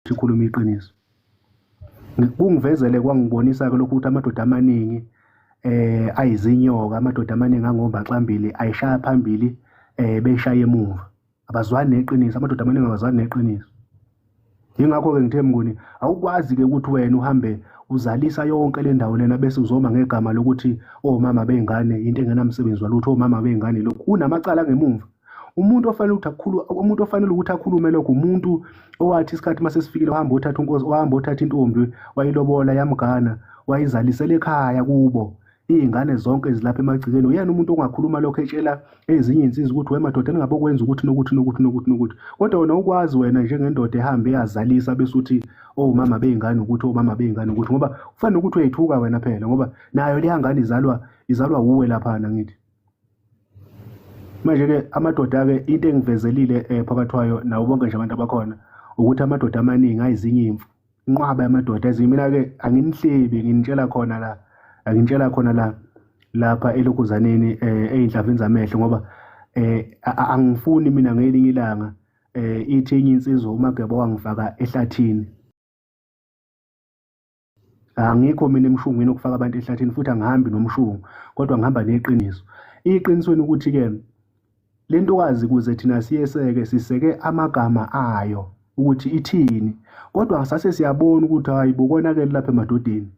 sikhuluma iqiniso kungivezele kwangibonisa-ke lokhu ukuthi amadoda amaningi eh ayizinyoka amadoda amaningi angombaxambili ayishaya phambili eh beyishaya emuva abazwani neqiniso amadoda amaningi abazwani neqiniso yingakho-ke ngithe mnguni awukwazi-ke ukuthi wena uhambe uzalisa yonke le ndawo lena bese uzoma ngegama lokuthi omama oh, bey'ngane into engenamsebenzi walutho omama oh, bey'ngane lokhu unamacala ngemumva umuntu ofanele ukuthi akhulu umuntu ofanele ukuthi akhulume lokho umuntu owathi isikhathi uma sesifikile wahamba othatha unkosi wahamba othatha intombi wayilobola yamgana wayizalisela ekhaya kubo iy'ngane zonke zilapha emagcikeni uyena umuntu ongakhuluma lokho etshela ezinye iy'nsiza ukuthi we madoda ningabe okwenza ukuthi nokuthi nokuthi nokuthi nokuthi kodwa wena ukwazi wena njengendoda ehambe eyazalisa bese uthi owumama oh, bey'ngane ukuthi owumama oh, bey'ngane ukuthi ngoba kufanele ukuthi uyayithuka wena phela ngoba nayo leya ngane izalwa izalwa wuwe laphana ngithi manje-ke amadoda-ke into engivezelile um phakathi wayo nawo bonke nje abantu abakhona ukuthi amadoda amaningi ayizinye imfu inqwaba yamadoda ezinye mina-ke anginihlebi nginitshela khona la anginitshela khona la lapha elokhuzaneni um eh, ey'nhlavini zamehlo ngoba um angifuni mina ngelinye ilanga um ithi enye insizwa umageba wangifaka ehlathini angikho mina emshungwini okufaka abantu ehlathini futhi angihambi nomshungu kodwa ngihamba neqiniso iqinisweni ukuthi-ke le ntokazi kuze thina siyeseke siseke amagama ayo ukuthi ithini kodwa sase siyabona ukuthi hayi bokonakele lapha emadodeni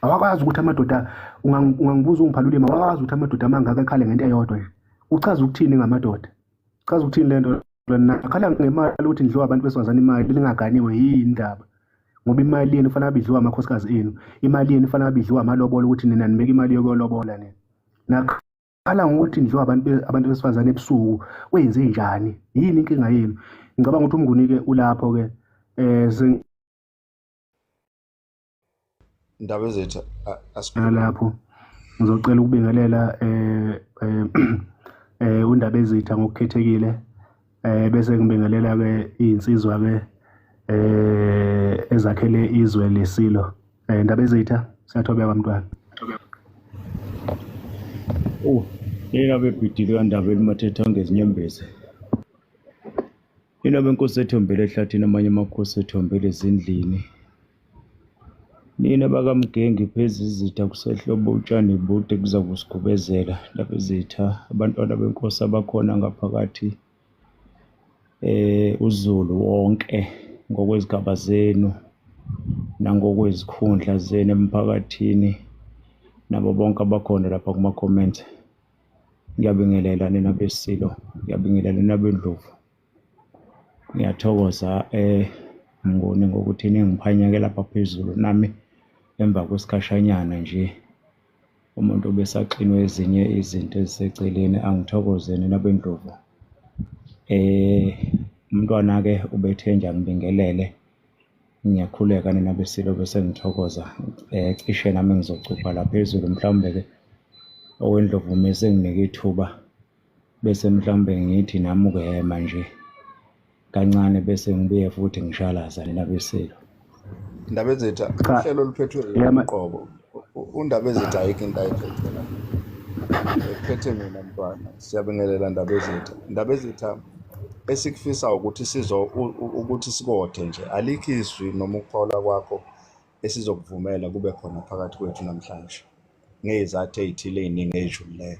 awakwazi ukuthi amadoda ungangibuza ungiphalulima awakwazi ukuthi amadoda amangaka ekhale ngento eyodwa nje uchaza ukuthini ngamadoda chaza ukuthini lento lona akhala ngemali ukuthi ndidliwa abantu besifazane imali lingaganiwe yini indaba ngoba imali yenu fanele abidliwa amakhosikazi enu imali yenu fanele abidliwa amalobolo ukuthi nina nibeka imali yokuyolobola nina nakhala ngokuthi ndidliwa abantu abantu besifazane ebusuku kwenze njani yini inkinga yenu ngicabanga ukuthi umnguni-ke ulapho-ke um indaba ezethu nalapho ngizocela ukubingelela eh eh, eh undaba ezitha ngokukhethekile eh bese ngibingelela ke izinsizwa ke eh ezakhele izwe lesilo eh indaba ezitha siyathobeka bantwana Oh, yena bebhidile kandaba elimathetha ngezinyembezi. Inoma inkosi ethombele ehlathini amanye amakhosi ethombele ezindlini. Nina bakamgengi pheza izitha kusehlobo utshani bude kuza kusigubezela lapha izitha abantwana benkosi abakhona ngaphakathi eh uZulu wonke ngokwezigaba zenu nangokwezikhundla zenu emphakathini nabo bonke abakhona lapha kuma-comment Ngiyabingelela nina besilo, ngiyabingelela nina bendlovu. Ngiyathokoza eh Mnguni ngokuthi ningiphanyeke lapha phezulu nami emva kwesikhashanyana nje umuntu obesaxinwe ezinye izinto eziseceleni angithokoze nina bendlovu. Eh umntwana-ke ubethe nje angibingelele. Ngiyakhuleka nina besilo bese ngithokoza eh cishe nami ngizocupha la phezulu mhlawumbe ke owendlovu uma esenginike ithuba bese mhlawumbe ngithi nami ukuyema nje kancane bese ngibuye futhi ngishalaza nina besilo Ndaba ezetha Cha. uhlelo oluphethwe Yema. uqobo undaba ezitha ayikho into ayiphethe phethe mina mntwana siyabingelela ndaba ezitha ndaba ezitha esikufisa ukuthi sizo ukuthi sikothe nje alikho izwi noma ukuphola kwakho esizokuvumela kube khona phakathi kwethu namhlanje ngezathu ezithile eziningi ezidlulileyo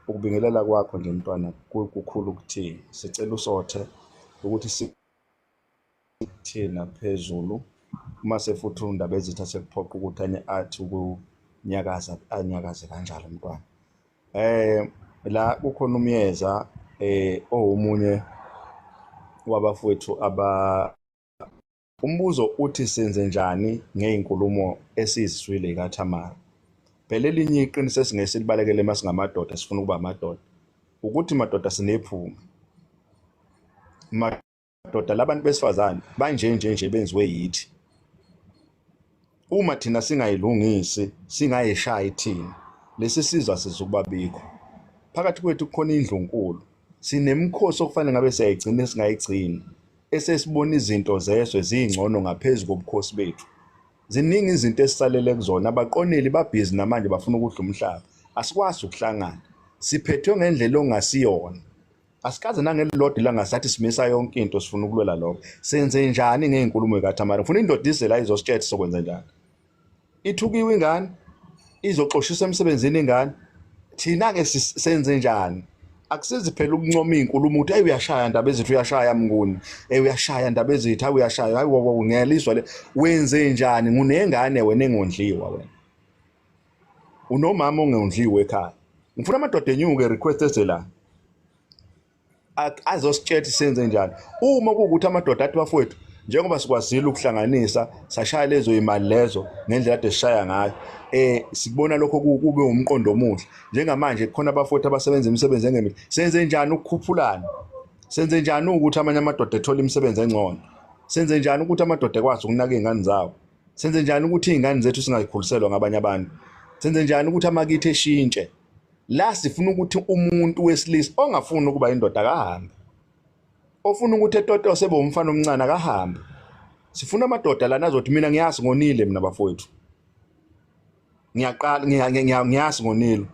ukubingelela kwakho nje mntwana kukhulu kuthini sicela usothe ukuthi si Thina phezulu uma sefutha undaba ezitha sekuphoqa ukuthi anye athi ukunyakaza anyakaze kanjalo umntwana eh la kukhona umyeza eh owomunye wabafowethu aba umbuzo uthi senze njani ngey'nkulumo esizizwile ikaThamara phela elinye iqiniso esingeke silibalekele uma singamadoda sifuna ukuba amadoda ukuthi madoda sinephunga Doda labantu besifazane banje nje nje benziwe yithi. Uma thina singayilungisi, singayishayi thina, lesi sizwa sizukuba bikho. Phakathi kwethu kukhona indlu nkulu. Sinemikhosi okufanele ngabe siyayigcina singayigcini. Esesibona izinto zeswe zingcono ngaphezulu kobukhosi bethu. Ziningi izinto esisalele kuzona, abaqoneli babhizi namanje bafuna ukudla umhlaba. Asikwazi ukuhlangana. Siphethwe ngendlela ongasiyona. asikaze nangelilodwa ilanga sathi simisa yonke into sifuna ukulwela lokho senze njani ngey'nkulumo ekatamara funa indoda ize la izositshetha sokwenza njani ithukiwe ingane izoxoshiswa emsebenzini ingane thina-ke senze njani akusizi phela ukuncoma iy'nkulumo ukuthi eyi uyashaya ndaba ezithi uyashaya mnguni eyi uyashaya ndaba ezithi hayi uyashaya hayi ngiyalizwa le wenze njani ngunengane wena engondliwa wena unomama ongewundliwe ekhaya ngifuna amadoda enyuke request eze la azositshela senze njani uma kuwukuthi amadoda athi bafowethu njengoba sikwazile ukuhlanganisa sashaya lezo imali lezo ngendlela ade sishaya ngayo eh sikubona lokho kube umqondo omuhle njengamanje kukhona abafowethu abasebenza imisebenzi engemihle senze njani ukukhuphulana senze njani ukuthi amanye amadoda ethola imisebenzi engcono senze njani ukuthi amadoda ekwazi ukunaka izingane zawo Senze njani ukuthi izingane zethu singazikhuliselwa ngabanye abantu? Senze njani ukuthi amakithi eshintshe? La sifuna ukuthi umuntu wesilisa ongafuni ukuba indoda akahambe. Ofuna ukuthi etotose bomfana omncane akahambe. Sifuna amadoda lana azothi mina ngiyazi ngonile mina bafowethu. Ngiyaqala ngiyazi ngonile.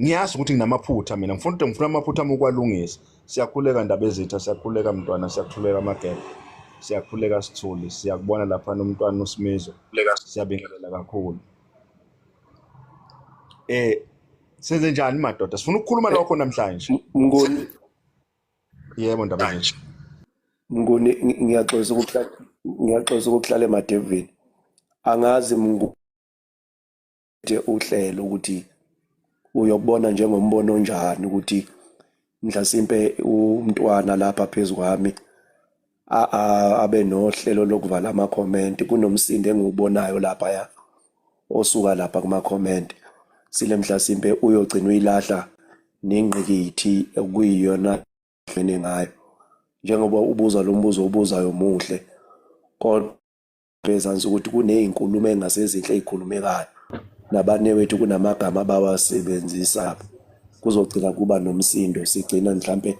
ngiyazi ukuthi nginamaphutha mina ngifuna ukuthi ngifuna amaphutha ami ukwalungisa siyakhuleka ndaba ezitha siyakhuleka mntwana siyakhuleka amagebe siyakhuleka sithuli siyakubona lapha nomntwana usimizo siyabingelela kakhulu eh senze njani madoda sifuna ukukhuluma eh, lokho namhlanje ngoni yebo ndaba nje ngoni ngiyaxolisa ukuthi ngiyaxolisa ukuthi hlale madevini angazi mngu nje uhlelo ukuthi uyokubona njengombono onjani ukuthi mhlasimpe umntwana lapha phezu kwami abe nohlelo lokuvala amakhomenti kunomsindo engiwubonayo laphaya osuka lapha kumakhomenti sile mhlasimpe uyogcina uyilahla nengqikithi okuyiyona hlene ngayo njengoba ubuza lo mbuzo obuzayo muhle kodwa Bezansi ukuthi kunezinkulumo engasezinhle ezikhulumekayo nabanewethu kunamagama abawasebenzisa kuzogcina kuba nomsindo sigcina mhlampe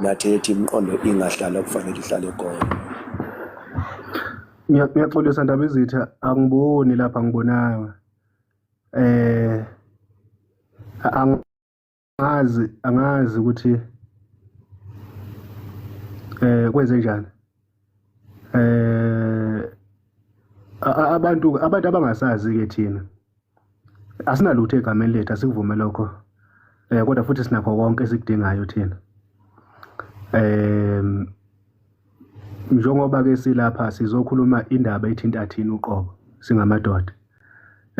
nathi ethi imiqondo ingahlala kufanele ihlale khona ngiyaxolisa ndaba izitha angiboni lapha ngibonanga eh angazi angazi ukuthi eh kwenze njani eh abantu abantu abangasazi ke thina asinalutho egameni lethu asikuvume lokho eh kodwa futhi sinakho konke esikudingayo thina um Njengoba ke silapha sizokhuluma indaba ethinta thina uqobo singamadoda.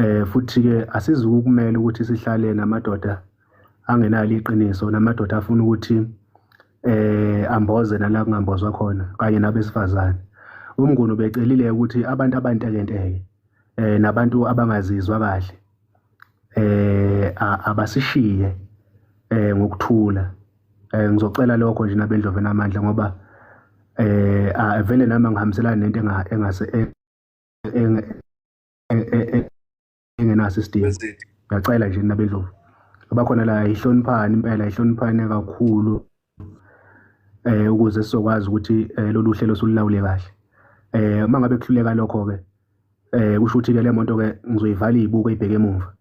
Eh futhi ke asizukumela ukuthi sihlale namadoda angenalo iqiniso namadoda afuna ukuthi eh amboze nala kungambozwa khona kanye nabesifazane. Umnguni ubecelile ukuthi abantu abantekenteke eh nabantu abangazizwa kahle eh abasishiye eh ngokuthula eh ngizocela lokho nje nabendlove namandla ngoba eh avele nami ngihambiselana nento engase engenaso isidingo ngiyacela nje nabendlovu abakhona la ihloniphani impela ihloniphani kakhulu eh ukuze sizokwazi ukuthi eh, lolu hlelo sululawule kahle eh uma ngabe kuhluleka lokho ke eh kusho ukuthi ke le moto ke ngizoyivala ibuke ibheke emuva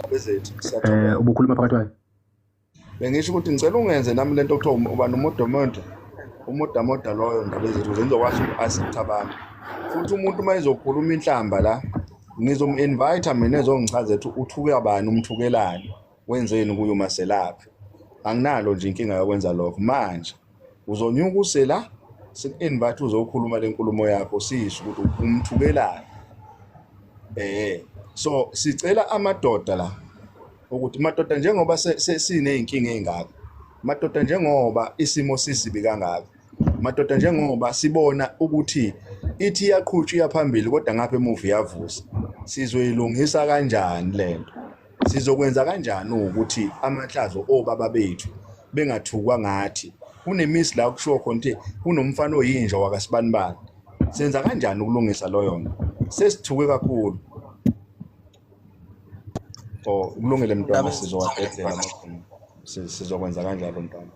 abezethu eh ubukhuluma phakathi kwayo bengisho ukuthi ngicela ungenze nami lento okuthiwa um, uba nomodomodo umodamoda loyo ndaba ezethu ukuze ngizokwazi uku-assist abantu futhi umuntu uma ezokhuluma inhlamba la ngizom-invite mina ezongichaza ethi uthuka bani umthukelani wenzeni kuyo maselaphi anginalo nje inkinga yokwenza lokho manje uzonyuka usela siku-invite uzokhuluma le nkulumo yakho sisho ukuthi umthukelani eh so sicela amadoda la ukuthi madoda njengoba siney'nkinga ey'ngaka madoda njengoba isimo sisibi kangaka madoda njengoba sibona ukuthi ithi iyaqhutshwa iyaphambili kodwa ngapha emuva iyavusa sizoyilungisa kanjani le nto Sizokwenza kanjani ukuthi amahlazo obaba bethu bengathukwa ngathi? Kunemisi la kushiwo khona ukuthi kunomfana oyinja wakasibanibani. Senza kanjani ukulungisa loyo nto? Sesithuke kakhulu. Oh, kulungile mntwana sizowabhedlela amakhulu. Sizokwenza kanjalo mntwana.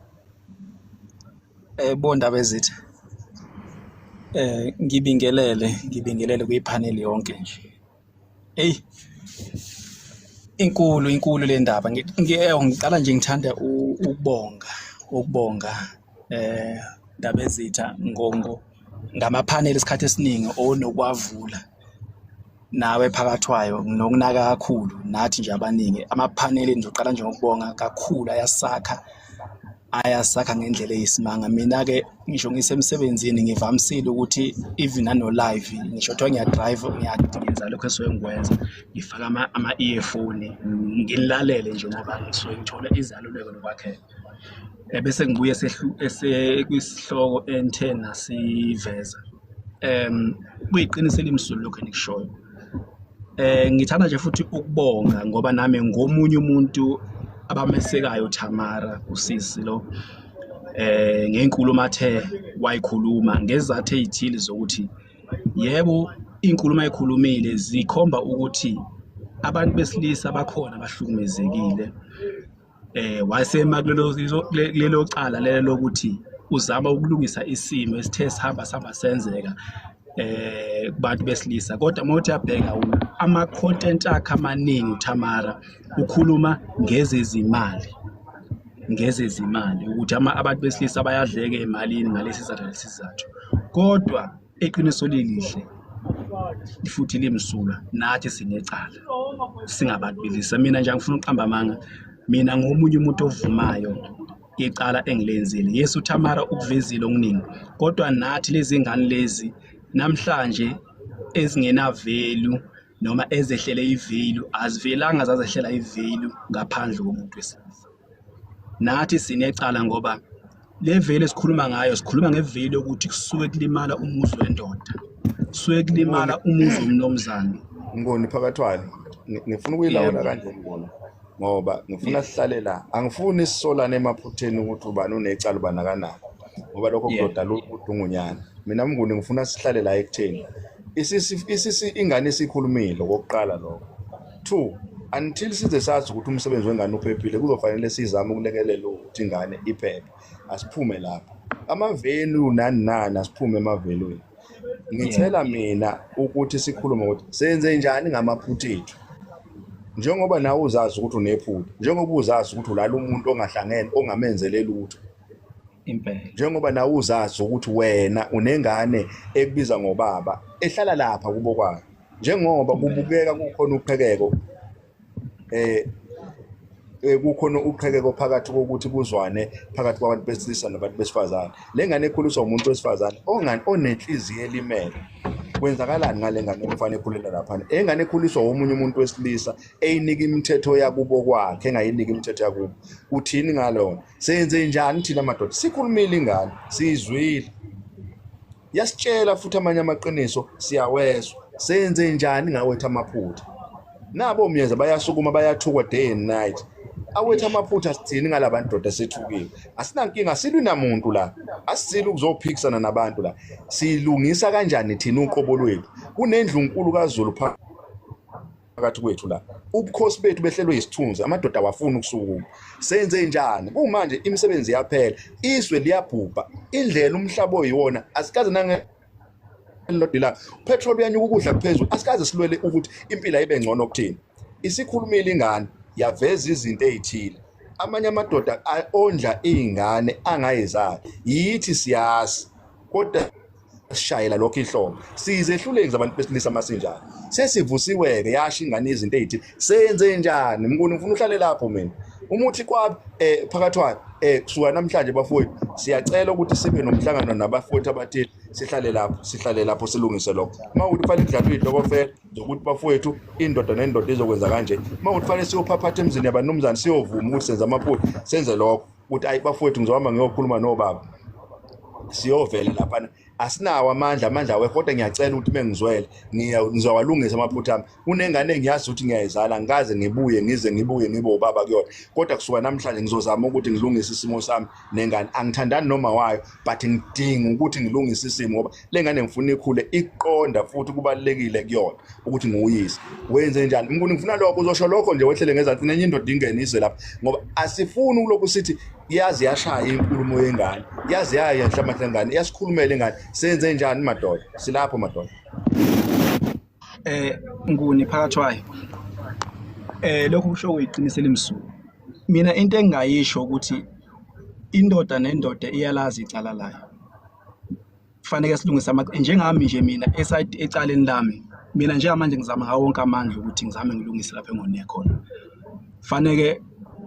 Eh bondaba ezithi eh ngibingelele ngibingelele kuyiphaneli yonke nje. Hey. Inkulu inkulu le ndaba. Ngiyeyo ngiqala nje ngithanda ukubonga ukubonga eh ndaba ezitha ngongo ngamaphaneli isikhathi esiningi onokwavula nawe phakathwayo nokunaka kakhulu nathi nje abaningi amaphaneli nje uqala nje ngokubonga kakhulu ayasakha ayasakha ngendlela eyisimanga mina-ke ngisho ngisemsebenzini ngivamisile ukuthi even ano-live ngisho kuthiwa ngiyadrive ngiyayenza lokho esuke ngikwenza ngifake ama-earphone ngilalele nje ngoba ngisuke ngithole izaluleko nokwakheka ebese ngibuye kwisihloko engithe nasiveza um kuyiqiniso elimsululu lokhu engikushoyo Eh ngithanda nje futhi ukubonga ngoba nami ngomunye umuntu abamesekayo Tamara usisi lo eh ngenkulumo athe wayikhuluma ngezathe ezithile zokuthi yebo inkulumo ayikhulumile zikhomba ukuthi abantu besilisa bakhona abahlukumezekile eh wasema kulelo lelo cala lelo lokuthi uzama ukulungisa isimo esithe sihamba saba senzeka eh kubantu besilisa kodwa uma uthi abheka ama content akhe amaningi uThamara ukhuluma ngezezimali ngezezimali ukuthi abantu besilisa bayadleke emalini ngalesi sizathu lesi sizathu kodwa iqiniso lilihle futhi limsulwa nathi sinecala singabantu belisa mina nje angifuna ukuqamba amanga mina ngomunye umuntu ovumayo icala engilenzile yesu thamara ukuvezile okuningi kodwa nathi lezi ngane lezi namhlanje ezingenavelu noma ezehlele ivelu azivelanga zazehlela ivelu ngaphandle komuntu wesilisa nathi sinecala ngoba le veli esikhuluma ngayo sikhuluma ngeveli yokuthi kusuke kulimala umuzi wendoda kusuke kulimala umuzi womnomzane ngoni phakathwane ngifuna ukuyilawula kanje ngibona ngoba ngifuna sihlale la angifuni sisolane emaphutheni ukuthi ubani unecala ubani akanako ngoba lokho kudoda ludungunyana mina mnguni ngifuna sihlale la ekutheni isisi ingane isikhulumile kokuqala lokho Two, until size sazi ukuthi umsebenzi wengane uphephile kuzofanele sizame ukulekelela ukuthi ingane iphephe asiphume lapho amavelu nani nani asiphume emavelweni ngithela mina ukuthi sikhulume ukuthi senze njani ngamaphutha ethu njengoba nawe uzazi ukuthi unephutha njengoba uzazi ukuthi ulala umuntu ongahlangene ongamenzeleli lutho impela njengoba nawe uzazi ukuthi wena unengane ekubiza ngobaba ehlala lapha kubo kwayo njengoba kubukeka kukhona uqhekeko eh, eh kukhona uqhekeko phakathi kokuthi kuzwane phakathi kwabantu besilisa nabantu besifazane le ngane ekhuliswa umuntu wesifazane ongani onenhliziyo elimele kwenzakalani ngale ngane umfana ekhulela laphana engane ekhuliswa womunye umuntu wesilisa eyinika imithetho yakubo kwakhe engayiniki imithetho yakubo uthini ngalona Senze njani thina madoda? Sikhulumile ingane, siyizwile. Yasitshela futhi amanye amaqiniso siyawezwa. Senze njani ngawethu amaphutha? Nabo myeza bayasukuma bayathukwa day and night. Awethu amaphutha sithini ngalabantu doda sethukile. Asinankinga silwi namuntu la. Asisili ukuzophikisana nabantu la. Silungisa kanjani thina uqobo lwethu? Kunendlu nkulu kaZulu phakathi phakathi kwethu la ubukhosi bethu behlelwe isithunzi amadoda awafuni ukusukuma senze njani kumanje imisebenzi yaphela izwe liyabhubha indlela umhlaba oyiwona asikaze nange lodila petrol uyanyuka ukudla kuphezulu asikaze silwele ukuthi impilo ibe ngcono kuthina isikhulumile ingane yaveza izinto ezithile amanye amadoda ondla izingane angayizali yithi siyazi kodwa sishayela lokho inhlombe siyizehluleki zabantu besilisa masinjalo sesivusiwe-ke yasho ingane izinto eyithi senze njani mkuni ngifuna uhlale lapho mina umuthi kwami um phakathwane um kusuka namhlanje bafowethu siyacela ukuthi sibe nomhlangano nabafowethu abathile sihlale lapho sihlale lapho silungise lokho uma ukuthi kufanele kudlalwe iy'tokofela zokuthi bafowethu indoda nendoda izokwenza kanje uma ukuthi kufanele siyophaphatha emzini yabanumzane siyovuma ukuthi senza amaphutha senze lokho ukuthi ayi bafowethu ngizohamba ngiyokhuluma nobaba siyovela laphana asinawo amandla amandla awekho kodwa ngiyacela ukuthi uma ngizwele ngizowalungisa amaphutha ami kunengane engiyazi ukuthi ngiyayizala ngikaze ngibuye ngize ngibuye ngibe ubaba kuyona kodwa kusuka namhlanje ngizozama ukuthi ngilungise isimo sami nengane angithandani noma wayo but ngidinga ukuthi ngilungise isimo ngoba lengane ngifuna ikhule iqonda futhi kubalekile kuyona ukuthi nguyise wenze njani ngikuni ngifuna lokho uzosho lokho nje wehlele ngezansi nenye indoda ingene izwe lapha ngoba asifuni ukulokhu sithi yazi yashaya inkulumo yengane yazi yaya enhlabathi lengane yasikhulumela ingane senze njani madoda silapho madoda eh nguni phakathi wayo eh lokhu kusho uyiqinise limsuku mina into engingayisho ukuthi indoda nendoda iyalazi icala layo kufanele silungise amacala njengami nje mina eside ecaleni lami mina njengamanje ngizama ngawo wonke amandla ukuthi ngizame ngilungise lapha engone khona faneke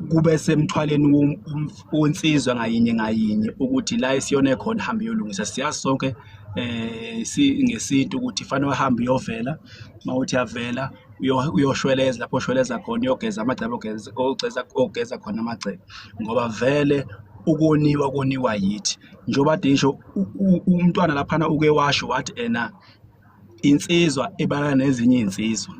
kube semthwaleni wensizwa ngayinye ngayinye ukuthi la isiyone khona hambe yolungisa siyazi sonke eh si ngesintu ukuthi fanele uhambe uyovela mawuthi yavela uyoshweleza lapho oshweleza khona uyogeza amagcebe ogeza ogeza ogeza khona amagcebe ngoba vele ukoniwa koniwa yithi njengoba kade ngisho u- u- umntwana laphana uke washo wathi ena insizwa ebala nezinye izinsizwa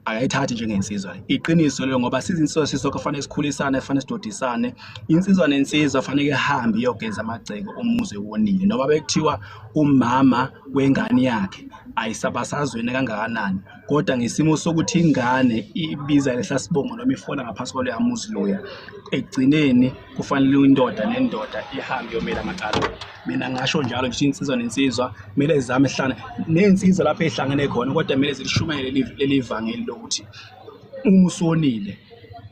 akayithathi njengensizwa iqiniso lelo ngoba sizinsizwa sisonke kufanele sikhulisane kufanele sidodisane insizwa nensizwa fanele ihambe iyogeza amagceke umuzi wonile noma bekuthiwa umama wengane yakhe ayisabasazweni kangakanani kodwa ngesimo sokuthi ingane ibiza lesa sibongo noma ifona ngaphansi kwaloya muzi loya ekugcineni kufanele indoda nendoda ihambe yomela amacala mina ngasho njalo ngisho insizwa nensizwa kumele zizame hlana ney'nsizwa lapho ey'hlangene khona kodwa kumele zilishumayele leli vangeli lokuthi uma usonile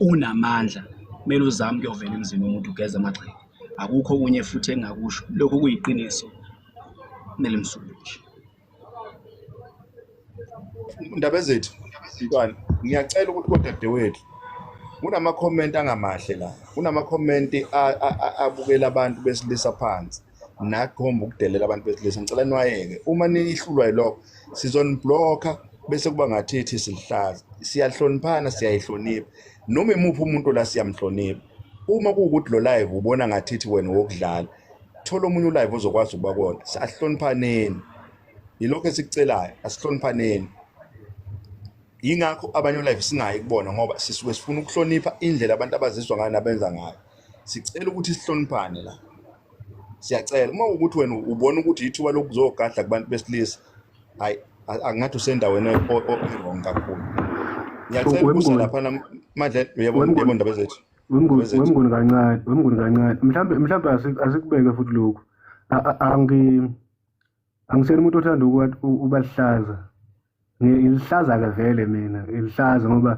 unamandla kumele uzame ukuyovela emzini womuntu ugeze amagxeke akukho okunye futhi engakusho lokho kuyiqiniso kumele msulushi Ndaba ezethu mntwana ngiyacela ukuthi kodadewethu kunama-comment angamahle la kunama-comment abukela abantu besilisa phansi nakhomba ukudelela abantu besilisa ngicela niwayeke uma nihlulwa yilokho sizoniblokha bese kuba ngathi ithi silihlaza siyahloniphana siyayihlonipha noma imuphi umuntu la siyamhlonipha uma kuwukuthi lo live ubona ngathithi wena wokudlala thola omunye ulive ozokwazi ukuba kona asihloniphaneni yilokho esikucelayo asihloniphaneni yingakho abanye ulive singayi kubona ngoba sisuke sifuna ukuhlonipha indlela abantu abazizwa ngayo nabenza ngayo sicela ukuthi sihloniphane la siyacela uma ukuthi wena ubona ukuthi yithuba lokuzogadla kubantu besilisa hayi angathi usendaweni ewrong kakhulu ngiyacela ukusa laphana madle uyabona uyabona ndaba zethu wemnguni kancane wemnguni kancane mhlawumbe mhlawumbe asikubeke futhi lokhu angi angisena umuntu othanda ubalihlaza ngilihlaza-ke vele mina ilihlaza ngoba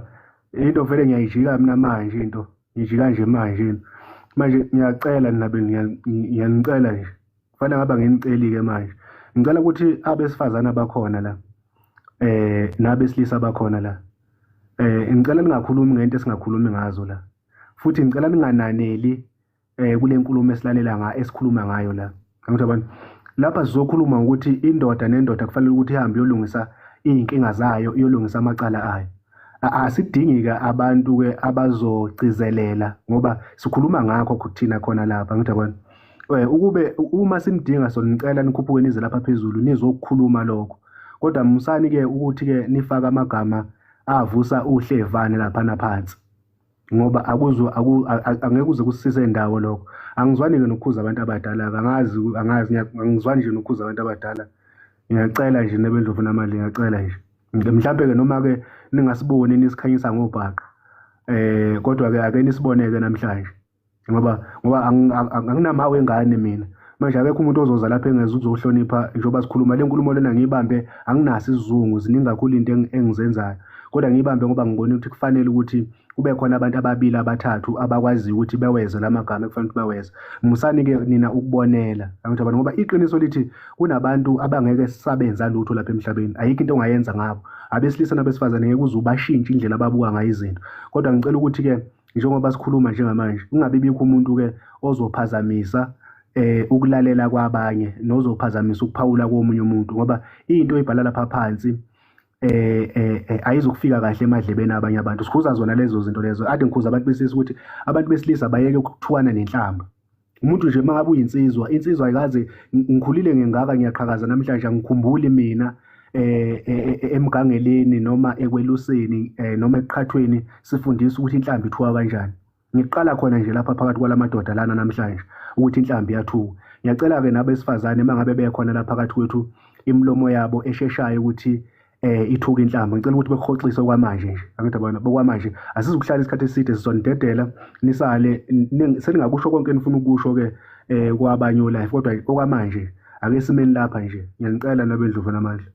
into vele ngiyayijika mina manje into ngijika nje manje manje ngiyacela nabe ngiyanicela nje kufanele ngaba ngenicelike manje ngicela ukuthi abesifazana bakhona la eh nabesilisa bakhona la eh ngicela ningakhulumi ngento esingakhulumi ngazo la futhi ngicela ningananeli eh kule nkulumo esilalela nga esikhuluma ngayo la Ngithe abantu lapha sizokhuluma ukuthi indoda nendoda kufanele ukuthi ihambe yolungisa izinkinga zayo yolungisa amacala ayo asidingike abantu ke abazogcizelela ngoba sikhuluma ngakho kuthina khona lapha ngithi abantu eh, ukube uma simdinga sonicela nikhuphuke nize lapha phezulu nizokukhuluma lokho kodwa musani ke ukuthi ke nifaka amagama avusa uhlevane lapha naphansi ngoba akuzo angeke uze kusise indawo lokho angizwani ke nokukhuza abantu abadala angazi angazi angizwani nje nokukhuza abantu abadala ngiyacela nje nebendlovu namali ngiyacela nje mhlawumbe ke noma ke ningasiboni nisikhanyisa ngobhaqa eh kodwa ke ake nisiboneke namhlanje ngoba ngoba anginamawu engane mina manje akekho umuntu ozoza lapha engeza ukuzohlonipha njengoba sikhuluma le nkulumo lena ngiyibambe anginaso isizungu ziningi kakhulu into engizenzayo kodwa ngiyibambe ngoba ngibona ukuthi kufanele ukuthi kube khona abantu ababili abathathu abakwaziyo ukuthi beweze la magama ekufanele ukuthi baweze musani-ke nina ukubonela angithi abantu ngoba iqiniso lithi kunabantu abangeke sisabenza lutho lapha emhlabeni ayikho into ongayenza ngabo abesilisa nabesifazane ngeke uze ubashintshe indlela ababuka ngayo izinto kodwa ngicela ukuthi-ke njengoba sikhuluma njengamanje kungabe bikho umuntu ke ozophazamisa eh ukulalela kwabanye nozophazamisa ukuphawula komunye umuntu ngoba into ibhala lapha phansi eh eh, eh ayizokufika kahle emadlebeni abanye abantu sikhuza zona lezo zinto lezo ade ngikhuza abantu besisi ukuthi abantu besilisa bayeke ukuthukana nenhlamba umuntu nje mangabe uyinsizwa insizwa ayikaze ngikhulile ngengaka ngiyaqhakaza namhlanje angikhumbuli mina eh, eh, eh emgangeleni noma ekweluseni eh, noma ekuqhathweni sifundisa ukuthi inhlambi ithuka kanjani ngiqala khona nje lapha phakathi kwalamadoda lana namhlanje ukuthi inhlambi yathuka ngiyacela ke nabesifazane mangabe bekhona lapha phakathi kwethu imilomo yabo esheshayo ukuthi eh ithuka inhlamba ngicela ukuthi bekuhoxise okwamanje nje angithi abona bokwamanje asizukuhlala isikhathi eside sizonidedela nisale seningakusho konke enifuna ukusho ke eh kwabanye life kodwa okwamanje ake simeni lapha nje ngiyanicela nabendluvu namandla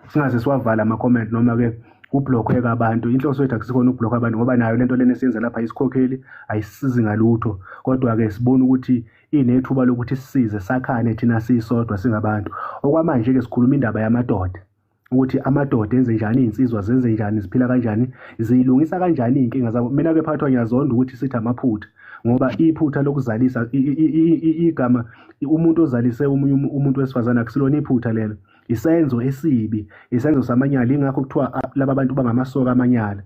singaze siwavala ama comment noma ke kublokhwe abantu inhloso yethu akusikhona ukublock abantu ngoba nayo lento lena esiyenza lapha isikhokheli ayisizi ngalutho kodwa ke sibona ukuthi inethuba lokuthi sisize sakhane thina sisodwa singabantu okwamanje ke sikhuluma indaba yamadoda ukuthi amadoda enze njani izinsizwa zenze njani ziphila kanjani ziyilungisa kanjani izinkinga zabo mina ke phathwa ngiyazonda ukuthi sithi amaphutha ngoba iphutha lokuzalisa igama umuntu ozalise umunye umuntu wesifazana akusilona iphutha lelo isenzo esibi isenzo samanyala ingakho kuthiwa laba bantu bangamasoka amanyala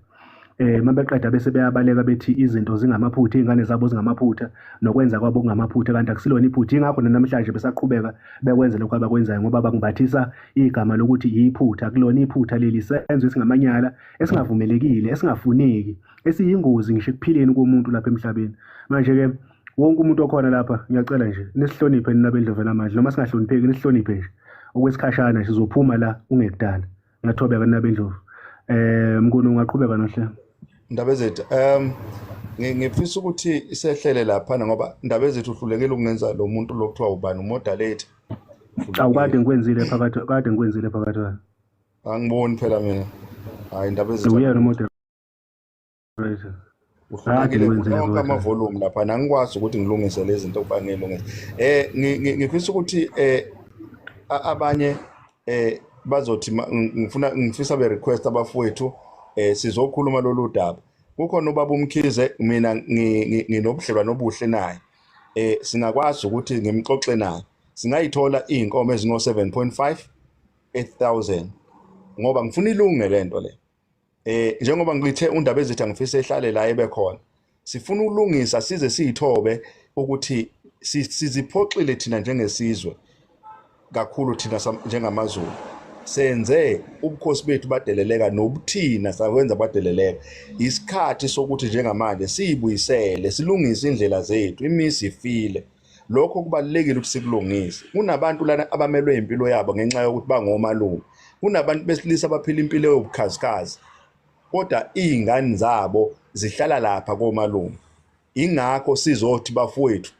eh mabeqeda bese beyabaleka bethi izinto zingamaphutha izingane zabo zingamaphutha nokwenza kwabo kungamaphutha kanti akusilona iphutha ingakho namhlanje besaqhubeka bekwenza lokho abakwenzayo ngoba bangibathisa igama lokuthi yiphutha kulona iphutha leli senzo esingamanyala esingavumelekile esingafuneki esiyingozi ngisho ekuphileni komuntu lapha emhlabeni manje ke wonke umuntu okhona lapha ngiyacela nje nisihloniphe nina bendlovela manje noma singahlonipheki nisihloniphe nje okwesikhashana sizophuma la ungekudala ngathobe ke nabe ndlovu eh mkunu ungaqhubeka nohle ndaba zethu um ngifisa ukuthi isehlele lapha ngoba ndaba zethu uhlulekile ukungenza lo muntu lo kuthiwa ubani umodalate awu kade ngikwenzile phakathi kade ngikwenzile phakathi angiboni phela mina hayi ndaba zethu uyena umodalate uhlukile onke amavolume lapha nangikwazi ukuthi ngilungise lezi zinto kuba ngilungise eh ngifisa ukuthi eh abanye eh bazothi ngifuna ngifisa be request abafowethu eh sizokhuluma lolu daba kukhona ubaba umkhize mina nginobudlelwano obuhle naye eh singakwazi ukuthi ngimxoxe naye singayithola izinkomo ezino 7.5 8000 ngoba ngifuna ilunge lento le eh njengoba ngithe undaba ezithi angifise ehlale la ebe khona sifuna ukulungisa size siyithobe ukuthi siziphoxile thina njengesizwe kakhulu thina njengamazulu senze ubukhosi bethu badeleleka nobuthina sakwenza badeleleka isikhathi sokuthi njengamanje siyibuyisele silungise indlela zethu imisi ifile lokho kubalulekile ukuthi sikulungise kunabantu lana abamelwe impilo yabo ngenxa yokuthi bangomalume kunabantu besilisa abaphila impilo yobukhazikhazi kodwa izingane zabo zihlala lapha komalume ingakho sizothi bafowethu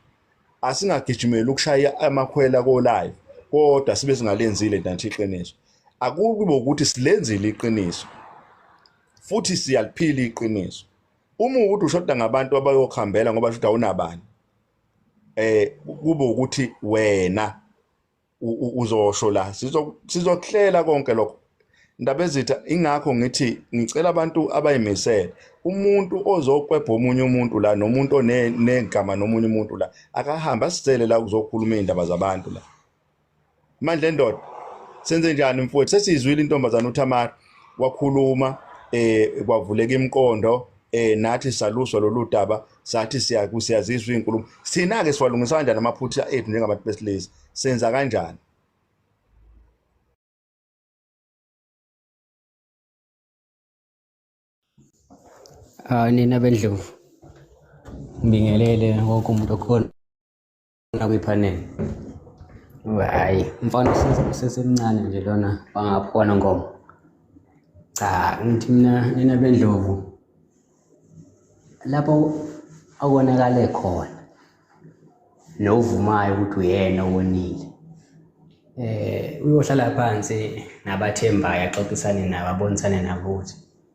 asingagijimeli ukushaya amakhwela kolayo kodwa sibe singalenzile ntanthi iqiniso akube ukuthi silenzile iqiniso futhi siyaliphila iqiniso uma ukuthi ushoda ngabantu abayokhambela ngoba shuthi awunabani eh kube ukuthi wena uzosho la sizo sizohlela konke lokho ndaba ezitha ingakho ngithi ngicela abantu abayimisele umuntu ozokwebha omunye umuntu la nomuntu onegama nomunye umuntu la akahambe asicele la kuzokhuluma iy'ndaba zabantu la manje lendoda senze njani mfowethu sesizwile intombazana uThamara wakhuluma eh kwavuleka imqondo eh nathi saluswa lolu daba sathi siyazizwa inkulumo sina ke siwalungisa kanjani amaphutha ethu njengabantu besilisa senza kanjani Ah nina bendlovu ngibingelele wonke umuntu okhona lona kwi-panel hhayi umfana usesemncane nje lona bangaphona ngoba cha ngithi mina nina bendlovu lapho akonakale khona novumayo ukuthi uyena owonile eh uyohlala phansi nabathembayo axoxisane nabo abonisane nabo ukuthi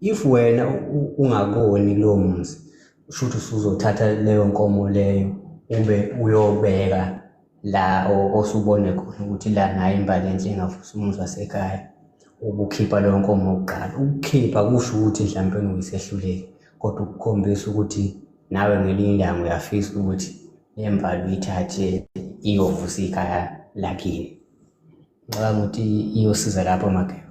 if wena ungakoni lowo muzi kusho ukuthi usuzothatha leyo nkomo leyo ube uyobeka la osubone khona ukuthi la nayo imbali enhle engavusa umuzi wasekhaya ukukhipha leyo nkomo kuqala ukukhipha kusho ukuthi mhlawumpe uyisehluleki kodwa ukukhombisa ukuthi nawe ngelinye ilanga uyafisa ukuthi le mbali uyithathe iyovusa ikhaya lakini ngicabanga ukuthi iyosiza lapho mageba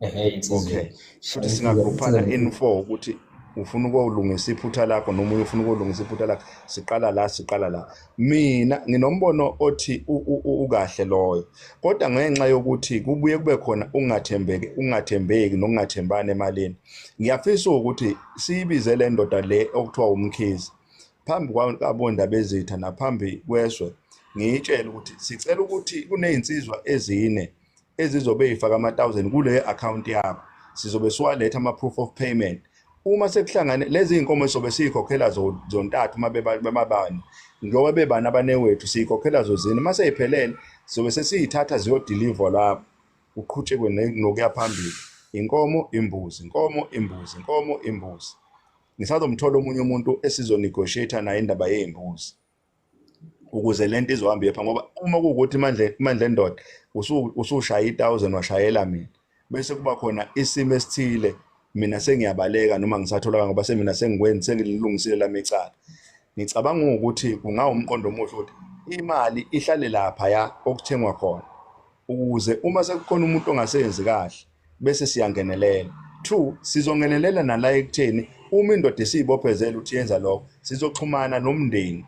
okay futhi singagruphana in four ukuthi ufuna ukolungisa iphutha lakho noma umunye ufuna ukolungisa iphutha lakho siqala la siqala la mina nginombono othi ukahle loyo kodwa ngenxa yokuthi kubuye kube khona ungathembeki ungathembeki nokungathembani emalini ngiyafisa ukuthi siyibize le ndoda le okuthiwa umkhizi phambi kwabondaba ezitha naphambi kweswe ngiyitshele ukuthi sicela ukuthi kunezinsizwa ezine ezizobe eyifaka ama-1000 kule akhawunti yakho sizobe siwaletha ama-proof of payment uma sekuhlangane lezi iy'nkomo esobe siyikhokhela zontathu uma bebabani njengoba bebani abanewethu siyikhokhela zozini uma seyiphelele sobe sesiyithatha ziyodilivwa lapho uqhutshekwe nokuya phambili inkomo imbuzi inkomo imbuzi inkomo imbuzi ngisazomthola omunye umuntu esizonegotiate naye indaba yey'mbuzi ukuze lento izohamba iyepha ngoba uma kuwukuthi imandla imandla endoda usushaya i1000 washayela mina bese kuba khona isimo esithile mina sengiyabaleka noma ngisatholaka ngoba semina sengikwenzi sengililungisile lami icala ngicabanga ukuthi kungawumqondo omuhle ukuthi imali ihlale lapha ya okuthengwa khona ukuze uma sekukhona umuntu ongaseyenzi kahle bese siyangenelela two sizongenelela nala ekutheni uma indoda esiyibophezela ukuthi yenza lokho sizoxhumana nomndeni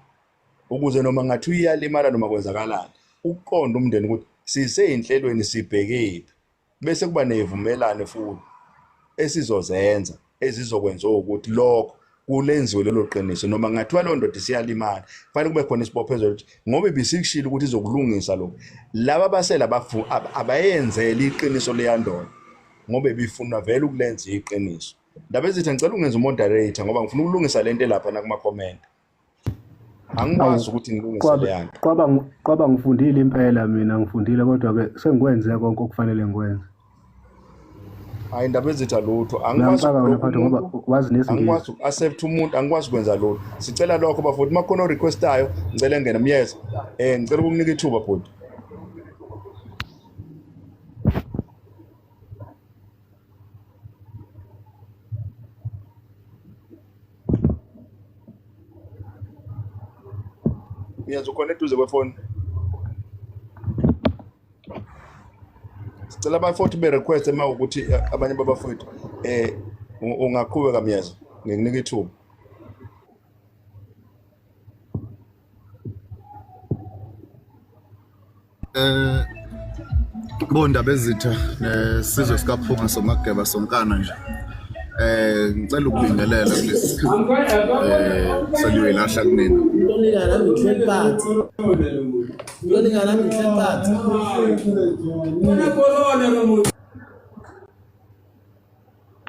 ukuze noma ngathi uyalimala noma kwenzakalani ukuqonda umndeni ukuthi siseyinhlelweni sibhekephi bese kuba neyivumelane futhi esizozenza ezizokwenziwa ukuthi lokho kulenziwe lelo qiniso noma kungathiwa loo ndoda isiyalimala kufanele kube khona isibophezelo ukuthi ngoba ibisikushilo ukuthi izokulungisa lokhu laba basela abayenzeli iqiniso leyandoda ngoba ibifunwa vele ukulenza iqiniso ndaba ezithi ngicela ungenza umoderator ngoba ngifuna ukulungisa le nto elapha nakuma-comment angikwazi ukuthi ngilungise leyanto kwaba kwaba ngifundile impela mina ngifundile kodwa ke sengikwenze konke okufanele ngikwenze hayi indaba ezitha lutho angikwazi uku-accept umuntu angikwazi ukwenza lutho sicela lokho bafoti uma khona orequestayo ngicela engene myeza um ngicela ukukunika ithuba bhuti Yes, ukhona eduze kwefoni. Sicela abafowethu be request uma ukuthi eh, abanye babafowethu eh ungaqhubeka myezo ngikunika ithuba. Eh bondaba ezitha nesizwe sikaphunga somageba sonkana nje eh ngicela ukubingelela kulesi sikhathi eh seliwelahla kunina ukulingana ngihleli phansi ukulingana ngihleli phansi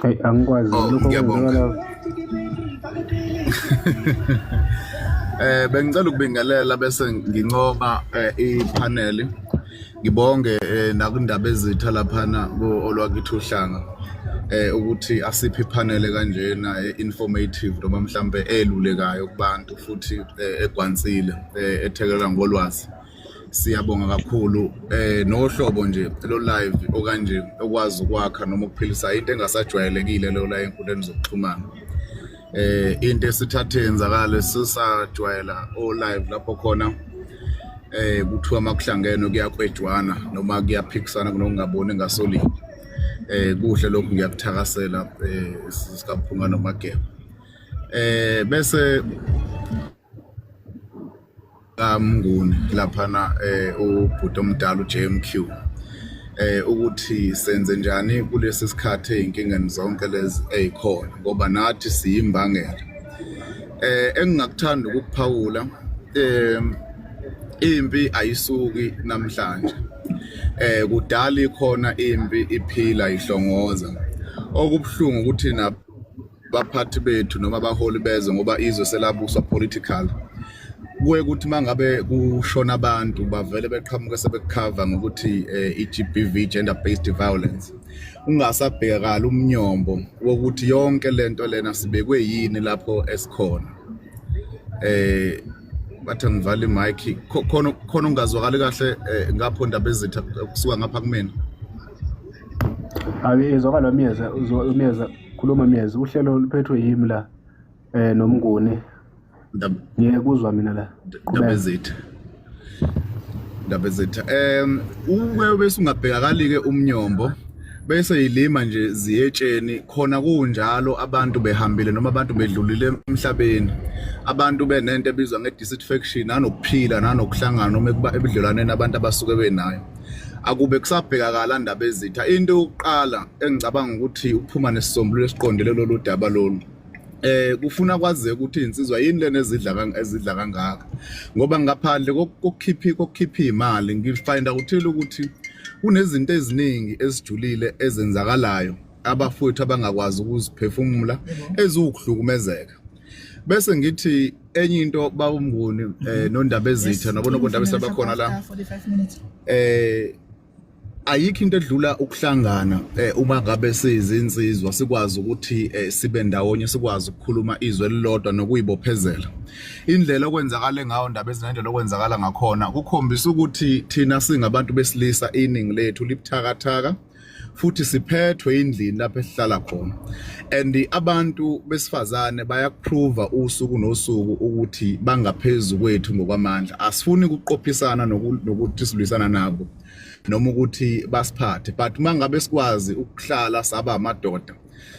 Ay, angikwazi Oh, lokho ngiyabonga. kwenzakala Eh bengicela ukubingelela bese nginqoba eh, ipanel. Ngibonge eh, nakundaba ezitha laphana ku olwakithi uhlanga eh ukuthi asiphi ipanel kanjena eh, informative noma mhlambe elulekayo kubantu futhi eh, egwansile eh, ethekelela ngolwazi. Siyabonga kakhulu eh nohlobo nje lo live okanje okwazi ukwakha noma ukuphilisa into engasajwayelekile leyo la enkundleni zokuxhumana. Eh into esithathe yenzakala sisajwayela o live lapho khona eh kuthiwa makuhlangene kuyakwejwana noma kuyaphikisana kunokungaboni ngasolini eh kuhle lokhu ngiyakuthakasela eh sikaphunga nomageba eh bese kamnguni laphana eh ubhuti omdala uJMQ eh ukuthi senze njani kulesi sikhathi ezinkingeni zonke lezi ezikhona ngoba nathi siyimbangela eh engingakuthanda ukuphawula eh impi ayisuki namhlanje eh kudala ikhona impi iphila ihlongoza okubuhlungu ukuthi na baphathi bethu noma abaholi bezwe ngoba izwe selabuswa political kuye ukuthi mangabe kushona abantu bavele beqhamuke sebekukhava ngokuthi eh, i-GBV gender based violence ungasabhekakala umnyombo wokuthi yonke lento lena sibekwe yini lapho esikhona eh bathi ngivala imic khona khona ungazwakali kahle eh, ngapho ndaba ezitha kusuka ngapha kumina Abi izwakala umyeza umyeza khuluma myezi uhlelo luphethwe yimi la eh nomnguni ngeke kuzwa mina la ndabezethu ndabezethu um uke bese ungabhekakali-ke umnyombo bese yilima nje ziyetsheni khona kunjalo abantu behambile noma abantu bedlulile emhlabeni abantu benento ebizwa nge-dissatisfaction nanokuphila nanokuhlangana noma ebudlelwaneni abantu abasuke benayo akube kusabhekakala ndaba ezitha into yokuqala engicabanga ukuthi ukuphuma nesisombululo esiqondele lolu daba lolu eh kufuna kwazeke ukuthi insizwa yini lena ezidla ezidla kangaka ngoba ngaphandle kokukhiphi kokukhipha imali ngifind ukuthi ukuthi kunezinto eziningi ezijulile ezenzakalayo abafowethu abangakwazi ukuziphefumula eziwukuhlukumezeka bese ngithi enye into bawumnguni um eh, mhm. nondaba ezitha nabona kondaba esabakhona la um eh, ayikho into edlula ukuhlangana eh, uma ngabe siyizinsizwa sikwazi ukuthi eh, sibe ndawonye sikwazi ukukhuluma izwe elilodwa nokuyibophezela indlela okwenzakala ngayo ndaba ezinendlela okwenzakala ngakhona kukhombisa ukuthi thina singabantu besilisa iningi lethu libuthakathaka futhi siphethwe indlini lapho esihlala khona and abantu besifazane bayakuprova usuku nosuku ukuthi bangaphezulu kwethu ngokwamandla asifuni ukuqophisana nokuthi silwisana nabo noma ukuthi basiphathe but mangabe sikwazi ukuhlala saba amadoda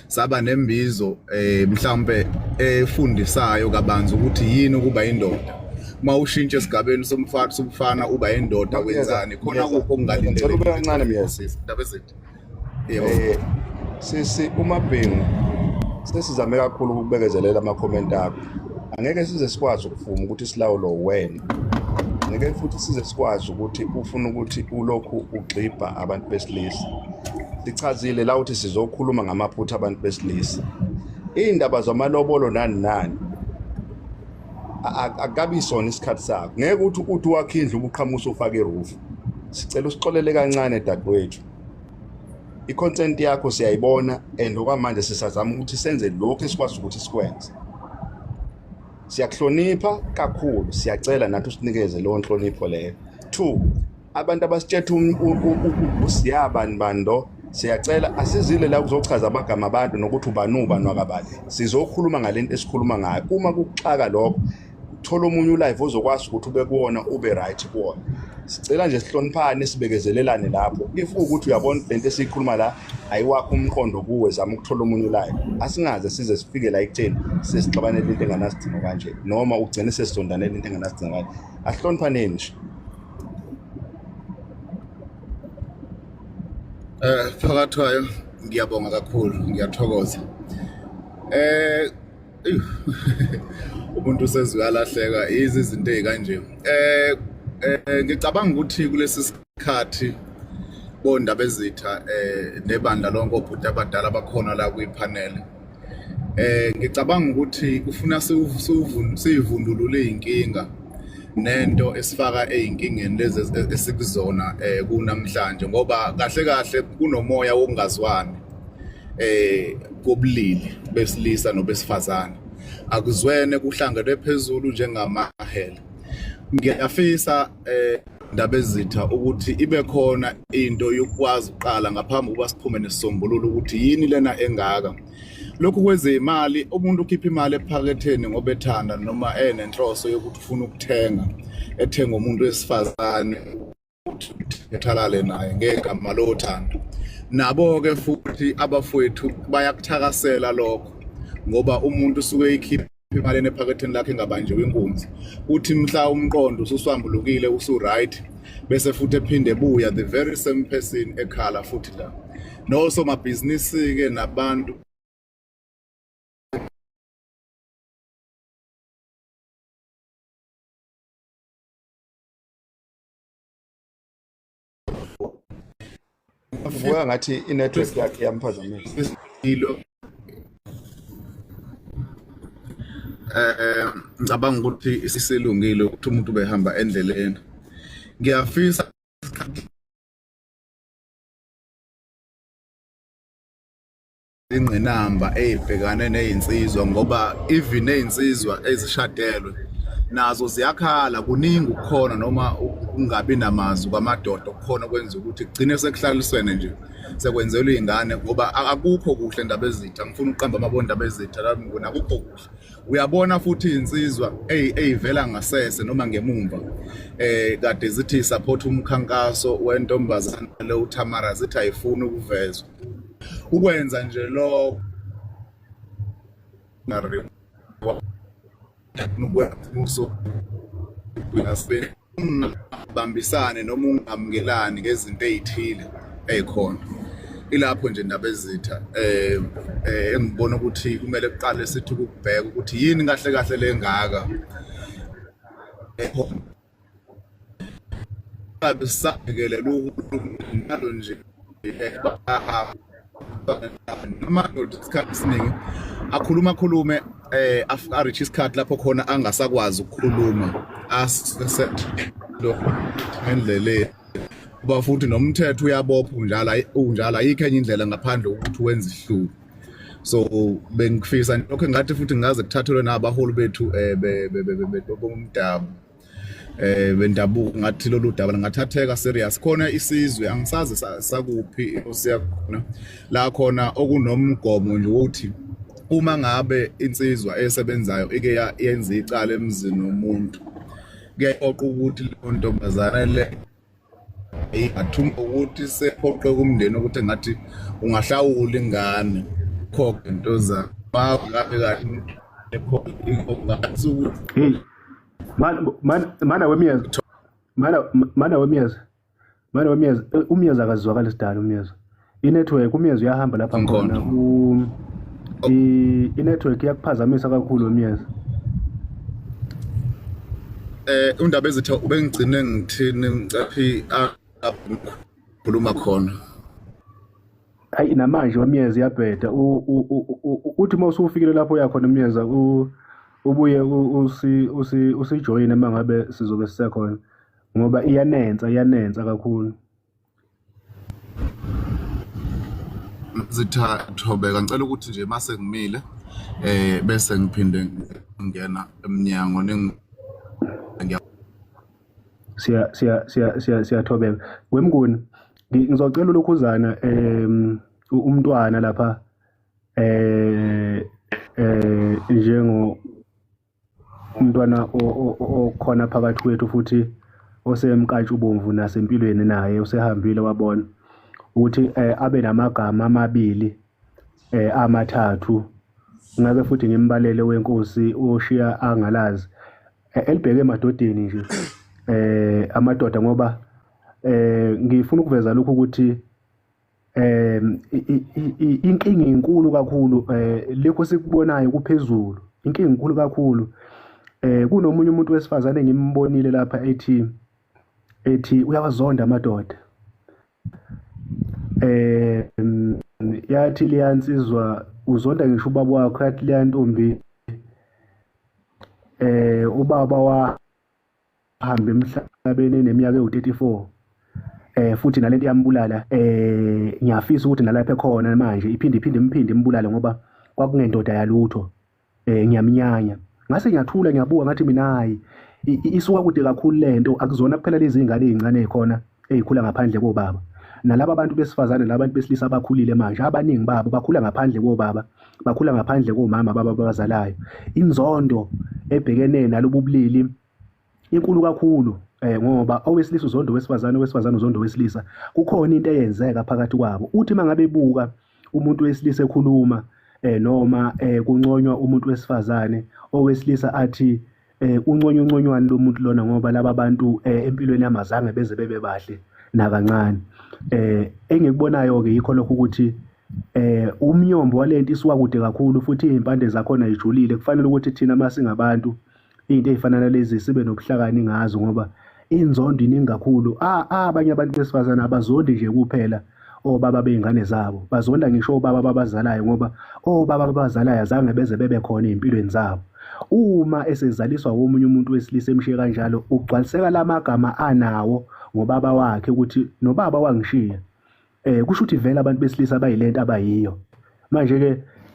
saba nembizo eh mhlambe efundisayo kabanzi ukuthi yini ukuba indoda uma ushintshe esigabeni somfana somfana uba indoda wenzani khona kupho kungalindele ube kancane myeza indaba ezinto yebo eh, sisi umabhengu sesizame kakhulu ukubekezelela ama comment akho angeke size sikwazi ukuvuma ukuthi silawulo wena ngeke futhi size sikwazi ukuthi ufuna ukuthi ulokhu ugxibha abantu besilisa sichazile la ukuthi sizokhuluma ngamaphutha abantu besilisa iy'ndaba zamalobolo nani nani akukabi isona isikhathi sakho ngeke ukuthi uthi wakhe indlu ubuqhamusa ufake irufu sicela usixolele kancane dadewethu i-content yakho siyayibona and okwamanje sisazama ukuthi senze lokhu esikwazi ukuthi sikwenze siyakuhlonipha kakhulu siyacela nathi usinikeze leyo nhlonipho leyo two abantu abasitshetha um, usiyabani bando siyacela asizile la kuzochaza amagama abantu nokuthi ubani ubani wakabani sizokhuluma ngale nto esikhuluma ngayo uma kuxaka lokho thola omunye ulive ozokwazi ukuthi ube kuwona ube right kuwona sicela nje sihloniphane sibekezelelane lapho if ukuthi uyabona lento esiyikhuluma la ayiwakho umqondo kuwe zama ukuthola omunye ulayo asingaze size sifike la ekutheni sesixabanele into enganasidingo kanje noma ugcine sesizondanele into enganasidingo kanje asihloniphaneni nje Eh phakathi kwayo ngiyabonga kakhulu ngiyathokoza. Eh umuntu usezwe alahleka izizinto ezikanje. Eh, eh ngicabanga ukuthi kulesi khathi bondaba ezitha eh nebandla lonke obhuti abadala bakhona la kwipanel eh ngicabanga ukuthi kufuna sivundulule inkinga nento esifaka ezinkingeni lezi esikuzona eh kunamhlanje ngoba kahle kahle kunomoya wokungazwani eh kobulili besilisa nobesifazana akuzwene kuhlangenwe phezulu njengamahele ngiyafisa eh ndabezitha ukuthi ibe khona into yokwazi uqala ngaphambi ukuba siphume nesisombululo ukuthi yini lena engaka lokhu kwezeyimali umuntu ukhipha imali ephaketheni ngoba ethanda noma enenhloso yokuthi ufuna ukuthenga ethenga umuntu wesifazane ukuthi ethalale naye ngegama lothando nabo-ke futhi abafowethu bayakuthakasela lokho ngoba umuntu usuke ekhipha emalini ephaketheni lakhe engabanjiwe inkunzi uthi mhla umqondo ususwambulukile usuright bese futhi ephinde buya the very same person ekhala futhi la nosomabhizinisi-ke nabantu Ubuya ngathi i-network yakhe yamphazamisa. Eh ngicabanga ukuthi isisilungile ukuthi umuntu ubehamba endleleni. Ngiyafisa ingqinamba eyibhekane nezinsizwa ngoba even nezinsizwa ezishadelwe nazo ziyakhala kuningi ukukhona noma ukungabi namazwi kwamadoda okukhona okwenza ukuthi kugcine sekuhlaliswene nje sekwenzelwa iy'ngane ngoba akukho kuhle ndaba ezitha ngifuna ukuqamba amabona ndaba ezitha lalmnguni akukho kuhle uyabona futhi iy'nsizwa ey'vela ngasese noma ngemumva um kade zithi support umkhankaso wentombazane le utamara zithi ayifuni ukuvezwa ukwenza nje lokho bambisane noma ungamukelani ngezinto ezithile ezikhona ilapho nje indaba ezitha eh, eh engibona ukuthi kumele kuqale sithi ukubheka ukuthi yini kahle kahle lengaka ngabe sisabhekelela uhulumalo nje noma ndoda isikhathi esiningi akhuluma akhulume eh ariche isikhathi lapho khona angasakwazi ukukhuluma asendleleni kuba futhi nomthetho uyabopha unjalo unjalo ayikho enye indlela ngaphandle kokuthi wenze ihluku so bengifisa lokho engathi futhi ngaze kuthathelwe nabaholi bethu um bomdabu um bendabuko ngathi lolu daba lingathatheka serious khona isizwe angisazi sakuphi siyakhona la khona okunomgomo nje wokuthi uma ngabe insizwa esebenzayo ike yenza icala emzini womuntu kuyayiqoqa ukuthi leyo ntombazane le eyi ngathuma ukuthi sephoqe kumndeni ukuthi ngathi ungahlawula ingane khokhe into za bawo laphe kahle ekhokhe ngathi ukuthi hmm. mana wemiyeza mana wemiyeza mana wemiyeza umyeza akazwakali sidala umyeza inetwork umyezo uyahamba lapha khona inetwork iyakuphazamisa kakhulu umyezo eh undaba ezithi ubengigcine ngithini ngicaphi akhuluma khona hayi namanje wamyeza iyabheda uthi uma usufikile lapho uyakhona umyeza ubuye usijoyine uma ngabe sizobe sisekhona ngoba iyanensa iyanensa kakhulu zitha thobeka ngicela ukuthi nje mase ngimile eh bese ngiphinde ngena emnyango ningi siya siya siya siya siyathobeka wemnguni ngizocela ulokhuzana em umntwana lapha eh eh njengo umntwana okhona phakathi kwethu futhi osemkatsha ubomvu nasempilweni naye usehambile wabona ukuthi eh, abe namagama amabili eh, amathathu ngake futhi ngimbalele wenkosi oshiya angalazi eh, elibheke emadodeni nje eh amadoda ngoba eh ngifuna ukuveza lokho ukuthi eh inkinga inkulu kakhulu eh lekho sikubonayo kuphezulu inkinga inkulu kakhulu eh kunomunye umuntu wesifazane ngimbonile lapha ethi ethi uyawazonda amadoda eh yathi liyansizwa uzonda ngisho ubaba wakho yathi liyantombi eh ubaba wa hambe emhlabeni eneminyaka ewu-34 eh futhi nalento iyambulala eh ngiyafisa ukuthi nalapha ekhona manje iphinde iphinde imphinde imbulale ngoba kwakungendoda yalutho eh ngiyamnyanya ngase ngiyathula ngiyabuka ngathi mina hayi isuka kude kakhulu lento akuzona kuphela lezi ngane ezincane khona ezikhula ngaphandle kobaba nalaba abantu besifazane laba bantu besilisa abakhulile manje abaningi babo bakhula ngaphandle kobaba bakhula ngaphandle komama baba abazalayo inzondo ebhekene nalobu bulili inkulu kakhulu eh ngoba owesilisa uzondo wesifazane owesifazane uzondo wesilisa kukhona into eyenzeka phakathi kwabo uthi mangabe buka umuntu wesilisa ekhuluma eh noma eh kunconywa umuntu wesifazane owesilisa athi eh unconywa unconywana lomuntu lona ngoba laba bantu eh, empilweni yamazange beze bebe bahle nakancane eh engikubonayo ke yikho lokho ukuthi eh umnyombo walento isuka kude kakhulu futhi izimpande zakhona ijulile kufanele ukuthi thina masingabantu into ezifana nalezi sibe nobuhlakani ngazo ngoba inzondo iningi kakhulu ah, ah, abanye abantu besifazane abazondi nje kuphela obaba oh, bey'ngane zabo bazonda ngisho obaba oh, babazalayo ngoba obaba oh, babazalayo azange beze bebe khona ey'mpilweni zabo uma esezaliswa womunye umuntu wesilisa emshiye kanjalo ugcwaliseka la magama anawo ngobaba wakhe ukuthi nobaba wangishiya Eh kusho ukuthi vele abantu besilisa bayilento abayiyo. Manje ke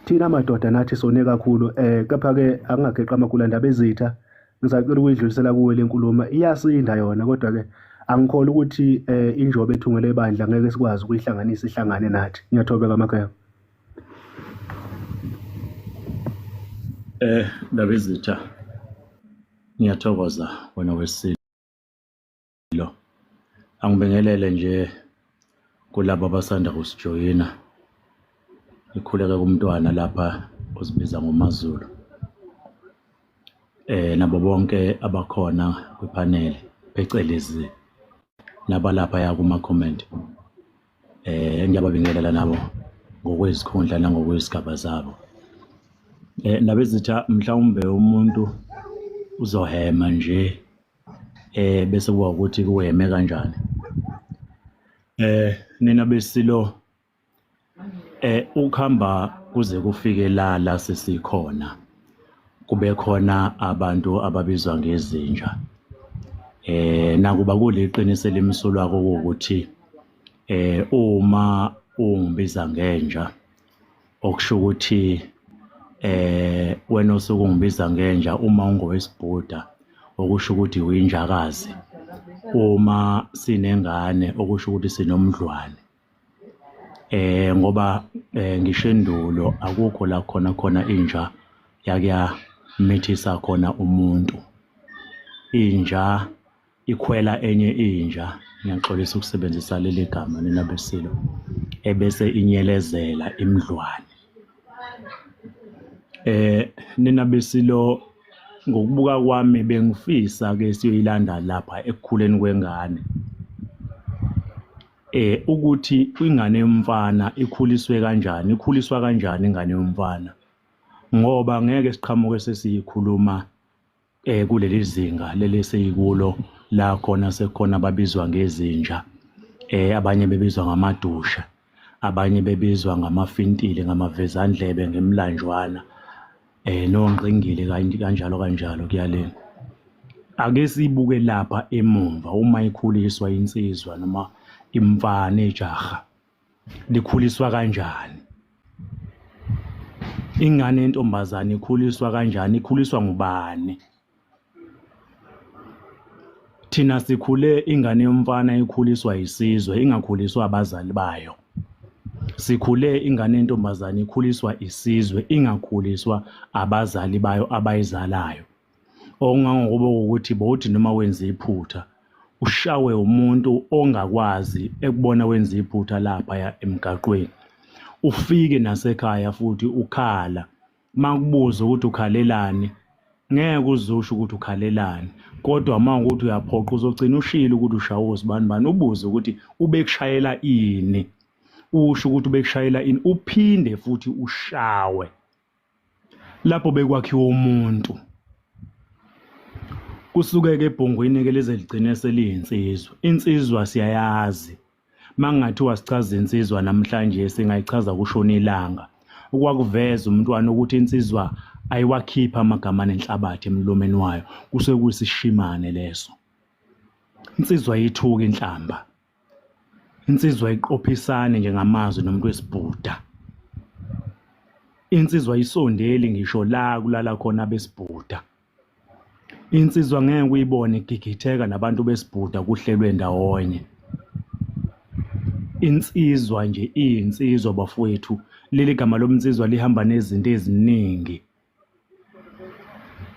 thina madoda nathi sone kakhulu eh kepha ke akungageqa amagula ndaba ezitha ngisacela ukuyidlulisela kuwe lenkulumo iyasinda yona kodwa ke angikholwa ukuthi eh injobe ethungele ibandla ngeke sikwazi ukuyihlanganisa ihlangane nathi ngiyathobeka makhaya eh ndabezitha ngiyathokoza wena wesilisa Lo angibingelele nje kulabo abasanda kusijoyina ikhuleke kumntwana lapha ozibiza ngoMaZulu eh nabo bonke abakhona kwipanel phecelezi nabalapha ya kuma comment eh ngiyababingelela nabo ngokwezikhundla nangokwesigaba zabo eh nabezitha mhlawumbe umuntu uzohema nje eh bese kuba ukuthi kuweme kanjani eh nina besilo eh ukuhamba kuze kufike la la sesikhona kube khona abantu ababizwa ngezinja eh nakuba kuliqiniso elimsulwa ukuthi eh uma ungibiza ngenja okusho ukuthi eh wena osuke ungibiza ngenja uma ungowesibhuda okusho ukuthi uyinjakazi uma sinengane okusho ukuthi sinomdlwane eh ngoba eh, ngisho endulo akukho la khona khona inja yakuya mithisa khona umuntu inja ikhwela enye inja ngiyaxolisa ukusebenzisa leli gama nina besilo ebese inyelezela imdlwane eh nina besilo ngokubuka kwami bengifisa ke siyoyilanda lapha ekukhuleni kwengane eh ukuthi ingane yomfana ikhuliswe kanjani ikhuliswa kanjani ingane yomfana ngoba ngeke siqhamuke sesiyikhuluma eh kuleli zinga leli seyikulo la khona sekhona babizwa ngezinja eh abanye bebizwa ngamadusha abanye bebizwa ngamafintile ngamavezandlebe ngemlanjwana eh nongqingili kanjalo kanjalo kuyalena ake sibuke lapha emumva uma ikhuliswa insizwa noma imfana ejaha likhuliswa kanjani ingane yentombazane ikhuliswa kanjani ikhuliswa ngubani thina sikhule ingane yomfana ikhuliswa isizwe ingakhuliswa abazali bayo sikhule ingane yentombazane ikhuliswa isizwe ingakhuliswa abazali bayo abayizalayo okungangokuba ukuthi bowuthi noma wenze iphutha ushawe umuntu ongakwazi ekubona wenza iphutha laphaya emgaqweni ufike nasekhaya futhi ukhala makubuza ukuthi ukhalelani ngeke uzusho ukuthi ukhalelani kodwa uma ukuthi uyaphoqa uzogcina ushilo ukuthi ushawe usibani bani ubuze ukuthi ubekushayela ini usho ukuthi ubekushayela ini uphinde futhi ushawe lapho bekwakhiwa umuntu kusuke-ke ebhongweni-ke lize ligcine seliyinsizwa insizwa siyayazi uma kungathiwa sichaza insizwa namhlanje singayichaza kushona ilanga okwakuveza umntwana ukuthi insizwa ayiwakhipha amagama nenhlabathi emlomeni wayo kusuke kuyisishimane leso insizwa yithuka inhlamba insizwa iqophisane nje ngamazwi nomuntu wesibhuda insizwa isondeli ngisho la kulala khona besibhuda insizwa ngeke uyibone igigitheka nabantu besibhuda kuhlelwe ndawonye insizwa nje iyinsizwa bafowethu leli gama lomnsizwa lihamba nezinto eziningi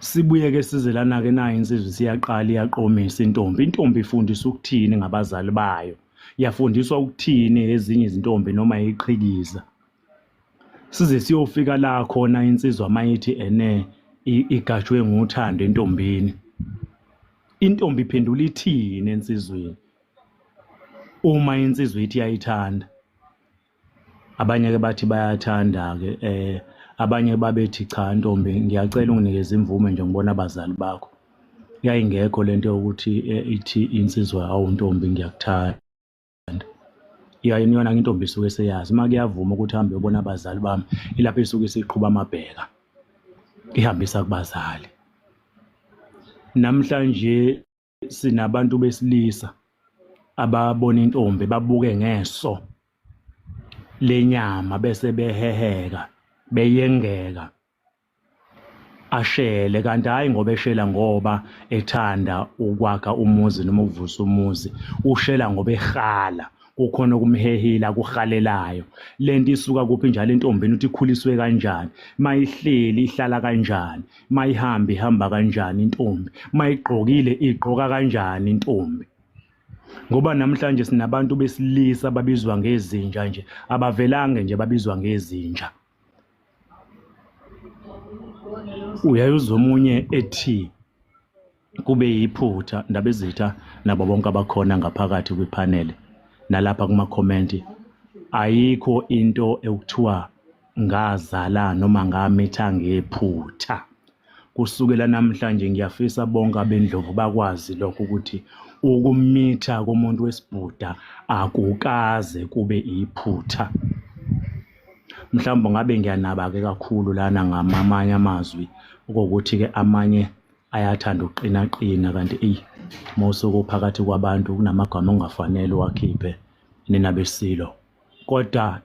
Sibuye ke sizelana-ke nayo insizwa isiyaqala iyaqomisa intombi. Intombi ifundiswa ukuthini ngabazali bayo? Yafundiswa ukuthini ezinye izintombi noma iqhikiza? Size siyofika la khona insizwa mayithi ene igajwe ngothando entombini. Intombi iphendula ithini ensizweni uma insizwa ithi yayithanda? Abanye-ke bathi bayathanda-ke um abanye babethi cha ntombi ngiyacela unginikeze imvume nje ngibona abazali bakho yayingekho lento yokuthi eh, ithi insizwa awu ntombi ngiyakuthanda yaye niyona intombi isuke seyazi uma kuyavuma ukuthi hambe yobona abazali bami ilapho isuke isiqhuba amabheka ihambisa kubazali namhlanje sinabantu besilisa ababona intombi babuke ngeso lenyama bese beheheka beyengeka ashele kanti hayi ngoba eshela ngoba ethanda ukwakha umuzi noma ukuvusa umuzi ushela ngoba ehala kukhona okumhehile akuhalelayo lento isuka kuphi njalo entombini ukuthi ikhuliswe kanjani mayihleli ihlala kanjani mayihambi ihamba kanjani intombi mayigqokile igqoka kanjani intombi ngoba namhlanje sinabantu besilisa babizwa ngezinja nje abavelange nje babizwa ngezinja uyaye uzomunye ethi kube yiphutha ndabezitha nabo bonke abakhona ngaphakathi kwiphanele nalapha kumakhomenti ayikho into ekuthiwa ngazala noma ngamitha ngephutha kusukela namhlanje ngiyafisa bonke abendlovu bakwazi lokho ukuthi ukumitha komuntu wesibhuda akukaze kube iphutha mhlawumbe ngabe ngiyanaba-ke kakhulu lana ngamamanye amazwi okokuthi-ke amanye ayathanda ukuqinaqina kanti eyi uma usuke uphakathi kwabantu kunamagama ongafanele uwakhiphe nina besilo kodwa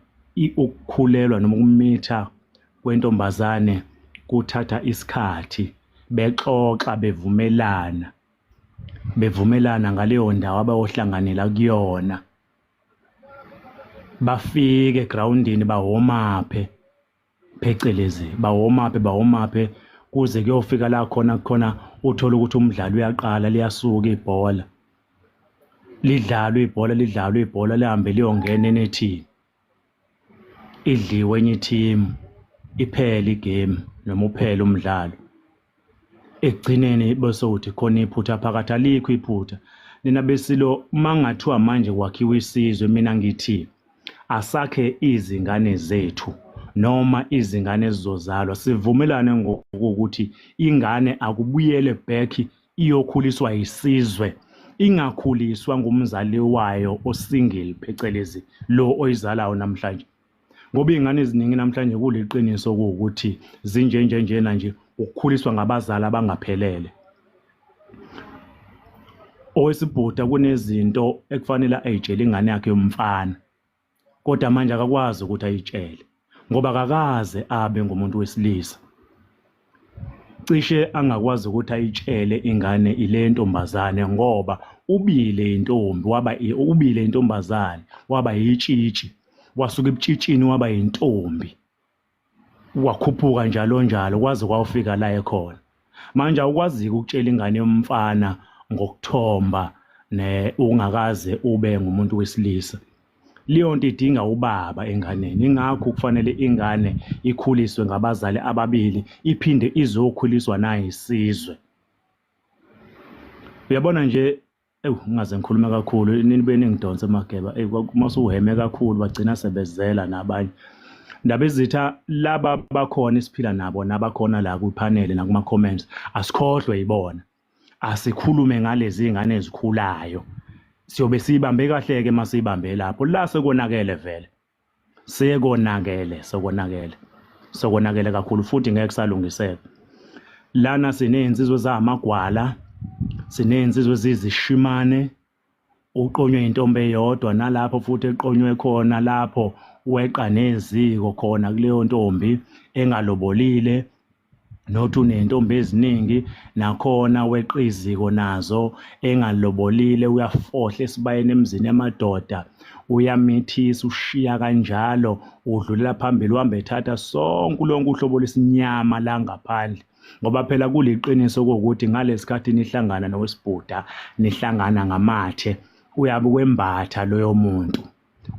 ukukhulelwa noma ukumitha kwentombazane kuthatha isikhathi bexoxa bevumelana bevumelana ngaleyo ndawo abayohlanganela kuyona bafike egroundini bahomaphe phecelezi bawomaphe bawomaphe kuze kuyofika la khona khona uthole ukuthi umdlalo uyaqala liyasuka ibhola lidlalwe ibhola lidlalwe ibhola lihambe liyongena enethini idliwe enye ithimu iphele igame noma uphele umdlalo ekugcineni bese uthi khona iphutha phakathi alikho iphutha nina besilo uma ngathiwa manje kwakhiwa isizwe mina ngithi asakhe izingane zethu noma izingane ezizozalwa sivumelane ngokuthi ingane akubuyele back iyokhuliswa isizwe ingakhuliswa ngumzali wayo osingle phecelezi lo oyizalayo namhlanje ngoba iy'ngane eziningi namhlanje kuliqiniso kuwukuthi zinjenjenjena nje ukukhuliswa ngabazali abangaphelele owesibhuda kunezinto ekufanele ayitshele ingane yakhe yomfana kodwa manje akakwazi ukuthi ayitshele ngoba kakaze abe ngumuntu wesilisa cishe angakwazi ukuthi ayitshele ingane ile ntombazane ngoba ubile intombi waba ubile intombazane waba yitshitshi wasuka ebutshitshini waba yintombi wakhuphuka njalo njalo kwaze kwawufika la ekhona manje awukwaziki ukutshela ingane yomfana ngokuthomba ne ungakaze ube ngumuntu wesilisa Leyonto idinga ubaba enganeni ingakho kufanele ingane ikhuliswe ngabazali ababili iphinde izokhuliswa nayisizwe. Uyabona nje ewu ngingaze ngikhulume kakhulu nibe ningidonse mageba eyi uma usuhheme kakhulu bagcina sebezela nabanye. Ndabezitha laba bakhona esiphila nabo nabakhona la kwiphaneli nakuma-comments asikhohlwe yibona. asikhulume ngalezi ngane ezikhulayo siyobe siyibambe kahle ke masiyibambe lapho la sekonakele vele sekonakele sekonakele sekonakele kakhulu futhi ngeke salungiseka lana sinezinsizwe zamagwala sinezinsizwe ezizishimane uqonywe intombi eyodwa nalapho futhi eqonywe khona lapho weqa neziko khona kuleyo ntombi engalobolile nothi uney'ntombi eziningi nakhona weqa iziko nazo engalobolile uyafohla esibayeni emzini yamadoda uyamithisa ushiya kanjalo udlulela phambili uhamba ethatha sonke lonke uhlobo lwesinyama la ngaphandle ngoba phela kuliqiniso kokuthi ngalesikhathi nihlangana nowesibhuda nihlangana ngamathe uyabe kwembatha loyo muntu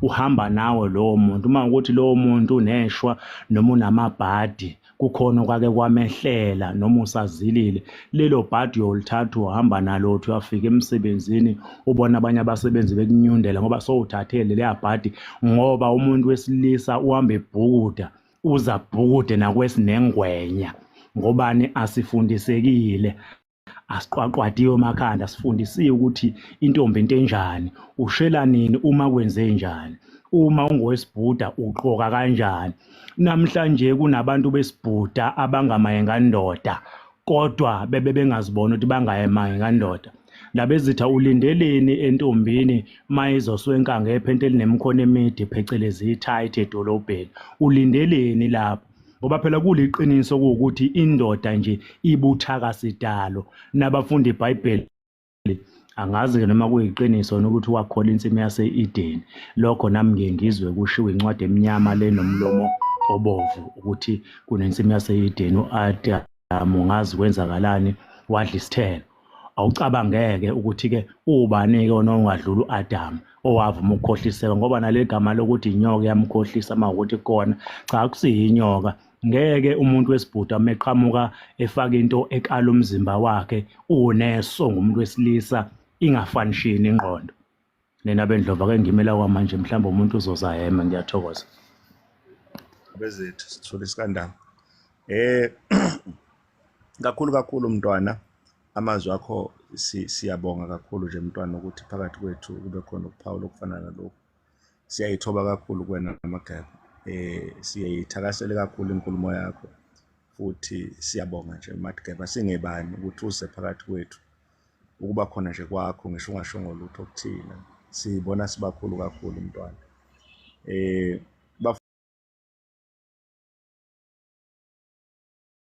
uhamba nawe lowo muntu uma ukuthi lowo muntu uneshwa noma unamabhadi kukhona okwake kwamehlela noma usazilile lelo bhadi uyolithatha uhamba nalo uthi uyafika emsebenzini ubona abanye abasebenzi bekunyundela ngoba sowuthathe leliya bhadi ngoba umuntu wesilisa uhamba ebhukuda uza bhukude nakwesinengwenya ngobani asifundisekile asiqwaqwadiwe emakhanda sifundisiwe ukuthi intombi into enjani ushela nini uma kwenze njani uma ungowesibhuda ugqoka kanjani namhlanje kunabantu besibhuda abangamayengandoda kodwa bebe bengazibona ukuthi bangayemange kandoda ndabezitha ulindeleni entombini uma izoswenka ngephenti elinemikhono emide phecelezi i-tight edolobheni ulindeleni lapho ngoba phela kuliqiniso ukuthi indoda nje ibuthaka sidalo nabafundi ibhayibheli Angazi-ke noma kuyiqiniso yini ukuthi wakhola insimu yase-Edeni. Lokho nami ngiye ngizwe kushiwo incwadi emnyama le nomlomo obovu ukuthi kunensimu yase-Edeni u-Adamu ngazi kwenzakalani wadla isithelo. Awucabangeke ukuthi-ke ubani-ke ona ongadlula u-Adamu owavuma ukukhohliseka ngoba naleli gama lokuthi inyoka iyamkhohlisa uma ukuthi kukona, cha akusiyo inyoka ngeke umuntu wesibhuda meqhamuka efaka into ekala umzimba wakhe uneso ngumuntu wesilisa ingafanishini ingqondo nina bendlova ke ngimela kwamanje mhlawumbe umuntu uzoza hema ngiyathokoza bezethu sithole isikandanga eh kakhulu kakhulu mntwana amazwi akho siyabonga kakhulu nje mntwana ukuthi phakathi kwethu kube khona ukuphawula okufanana lokhu Siyayithoba kakhulu kuwena Mageba. Eh siyayithakasela kakhulu inkulumo yakho. Futhi siyabonga nje Mageba singebani ukuthi uze phakathi kwethu. Ukuba khona nje kwakho ngisho ungashongo lutho kuthina. Sibona sibakhulu kakhulu mntwana. Eh